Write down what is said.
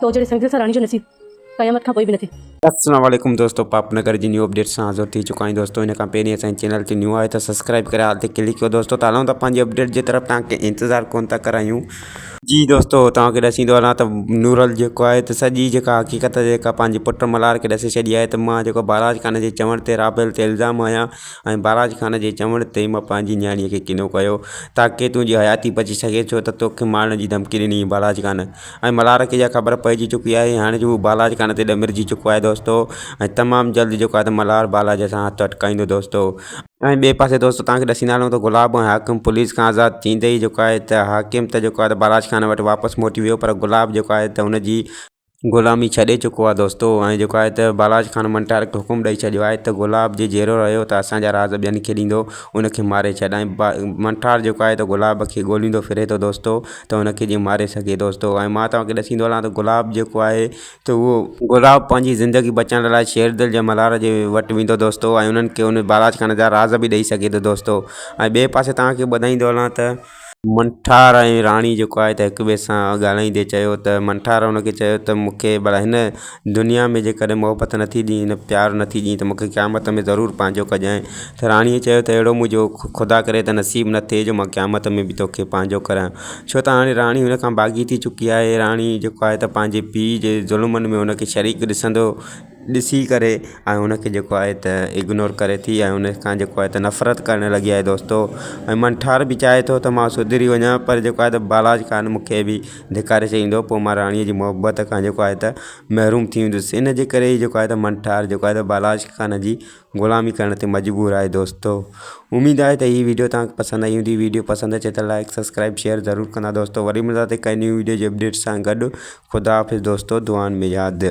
تو جهڙي سنگدل سان راڻي جو نصيب قيامت کان پوء به نه ٿئي. اسلام عليڪم دوستو پاپ نگر جي نيو اپڊيٽ سان حاضر ٿي چڪا آهيون دوستو ان کان پهرين اسان جي چينل تي نيو آهيو ته سبسڪرائب ڪري آل تي ڪلڪ ڪيو دوستو ته هلون ٿا پنهنجي اپڊيٽ جي طرف توهان کي انتظار ڪونه ٿا ڪرايون جي دوستو توهان کي ڏسي ٿو هلان ته نورل جيڪو آهي ته سڄي جيڪا حقيقت جيڪا پنهنجي پٽ ملهار کي ڏسي ڇڏي آهي ته مان جيڪو بهراج خان جي چوڻ تي رابيل تي الزام هنيا ۽ بهراج خان جي چوڻ تي مان پنهنجي نياڻي کي ڪنو ڪيو تاڪي تنهنجي حياتي بچي سگهي ڇو ته توکي مارڻ جي ڌمڪي ڏني هئي بهراج خان ۽ ملهار کي اها خبر پئجي چڪي آهي هاڻي جو هو بالاجي ڪانه تي ڏمرجي چڪو آهي دوستو ۽ تمام جلد جيڪو آهي ته ملهار بالاجي سان هٿ اٽڪائيندو دوستو ۽ ٻئي پاسي دوستو توهان کي ڏسي نه هلون ته گلاب ۽ حاڪم پوليس کان آزاد ٿيندي ئي جيڪو آهي ته حاڪم ته جيڪو آهي ته بالاجي خان وٽ واپس موٽي ويو پر گلاب جيڪو آهي ته هن جي غلامي ڇڏي چڪو آهي دوستو ۽ جيڪو آهي ته بالاجي خان منٽارڪ حڪم ڏئي ڇڏيو آهي ته گلاب جي جيئرو رهيو ته اسان جا راز ٻين کي ڏيندو ان کي ماري ڇڏ ۽ منٽار جيڪو آهي ته گلاب کي ڳوليندو ڦري ٿو دوستو ته ان کي جيئن ماري سگهي دوستو ۽ مان توهان کي ڏسيندو هلان ته گلاب جيڪو آهي ته اهو گلاب پنهنجي زندگي بچائڻ لاء شير دل جي ملهار جي وٽ ويندو دوستو ۽ انهن کي ان بالاچ خانه جا راز به ڏئي سگهي ٿو دوستو ۽ ٻئي پاسي توهان کي ٻڌائيندو هلان ته منٺار ۽ راڻي جيڪو آهي ته هڪ ٻئي سان ڳالهائيندي چيو ته منٺار ان کي چيو ته مون کي بلا هن دنيا ۾ جيڪڏهن محبت نه ٿي ڏينء پيار نه ٿي ڏينء ته مونکي قيامت ۾ ضرور پنهنجو ڪجانء ته راڻيء چيو ته اهڙو منهنجو خدا ڪري ته نصيب نه ٿئي جو مان قيامت ۾ به توکي پنهنجو ڪريان ڇو ته هاڻي راڻي هن کان باغي ٿي چڪي آهي راڻي جيڪو آهي ته پنهنجي پيء جي ظلمن ۾ هن کي شريڪ ڏسندو ڏسي ڪري ۽ هن کي جيڪو آهي ته اگنور ڪري ٿي ۽ هن کان جيڪو آهي ته نفرت ڪرڻ لڳي آهي دوستو ۽ منٺار به چاهي ٿو ته مان سڌري وڃان پر جيڪو آهي ته بالاچ خان مونکي به ڌڪاري چئي ايندو پوء مان راڻيء جي محبت کان جيڪو آهي ته محروم ٿي ويندس. ان جي ڪري ئي جيڪو آهي ته منٺار جيڪو آهي ته بالاشڪ خان جي غلامي ڪرڻ تي مجبور آهي دوستو. اميد آهي ته هي وڊيو توهان کي پسند آئي هوندي. وڊيو پسند اچي ته لائيڪ سبسڪرائيب شيئر ضرور ڪندا دوستو. وري ملنداسين ڪنهن نيون وڊيو جي اپڊيٽس سان گڏ. خدا حافظ دوستو دعائن ۾ ياد.